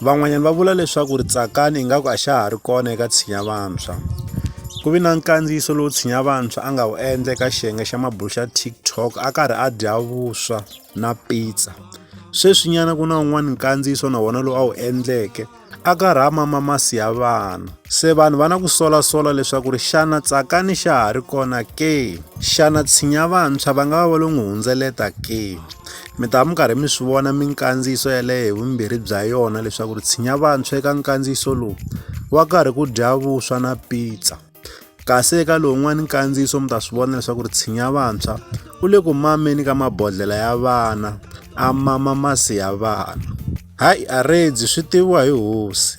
Van'wanyana va vula leswaku ri Tsakani ingaku a xa ha ri kona eka Tshinya Vantshwa. Ku vi na nkandziyiso lowu Tshinya Vantshwa a nga wu endla eka xiyenge xa mabulo xa TikTok a karhi a dya vuswa na pizza. Sweswinyana ku na wun'wana nkandziyiso na wona lowu a wu endleke a karhi a mama masi ya vana. Se vanhu va na ku solasola leswaku ri xana Tsakani xa ha ri kona ke? Xana Tshinya Vantshwa va nga va va lo n'wi hundzeleta ke? Mi ta va mi karhi mi swi vona minkandziyiso yaleyo hi vumbirhi bya yona leswaku ri tshinya vantshwa eka nkandziyiso lowu wa karhi ku dya vuswa na pizza kasi eka lowun'wana nkandziyiso mi ta swi vona leswaku ri tshinya vantshwa u le ku mameni ka mabodlhela ya vana a mama masi ya vana hayi a redzi swi tiviwa hi hosi